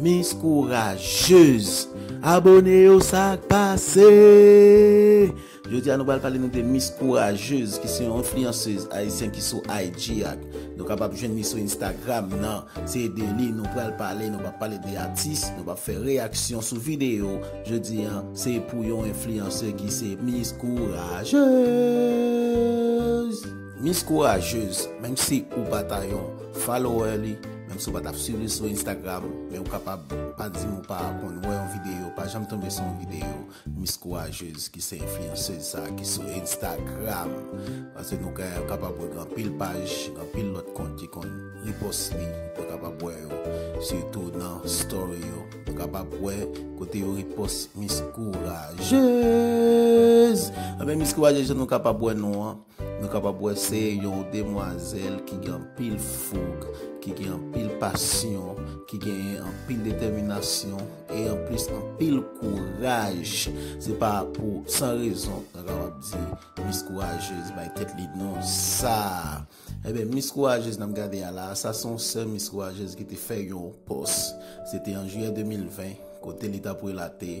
Miss courageuse abone yo sak pase jodia nou pral pale nou de miss courageuse ki se yon influenceuse ayisyen ki sou IG ak nou kapab jwenn li sou instagram nan se de li nou pral pale nou pap pale de atis nou pap fè reyaksyon sou video jodia se pou yon influenceuse ki se miss courageuse. Miss Courageuse, menm si ou pa ta yon follower li, menm si ou pa tap swiv li sou Instagram, men ou kapab pa dim ou pa konn wè yon videyo, pa janm tonbe sou yon videyo Miss Courageuse ki se enfliyanseuz sa ki sou Instagram. Paske nou ka kapab wè gen anpil paj, gen anpil lòt kont ki konn repost li, nou kapab wè yo sitou nan story yo, nou kapab wè kote yo repost Miss Courageuse. Anben Miss Courageuse jan nou kapab wè nou an, Nou kapab wè se yon demwazèl ki gen anpil foug, ki gen anpil pasyon, ki genyen anpil detèminasyon e anplis anpil kouraj. Se pa pou san rezon nou kapab di Miss Courageuse bay tèt li non sa a. Enben, Miss Courageuse n ap gade a la a, sa se yon sè Miss Courageuse ki te fè yon pòs. Se te an jiyè 2020, kote li t ap relate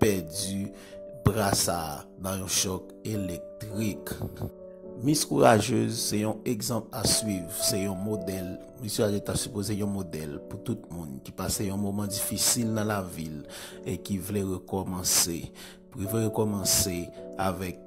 pèdi bra sa a nan yon chòk elektrik. Miss Courageuse se yon egzanp a swiv, se yon modèl. Miss Courageuse ta sipoze yon modèl pou tout moun ki pase yon moman difisil nan lavi l e ki vle rekòmanse. Pou yo vle rekòmanse avèk.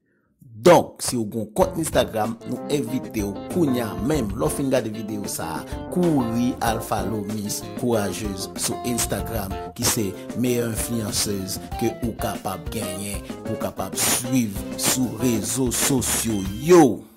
Donk siw gon kont instagram nou envitew kounya menm lèw fin gade video sa kouri al follow miss courageuse sou instagram ki se meyè influenceuse ke ou kapab genyen pou kapab swiv sou rezo sosyo yo.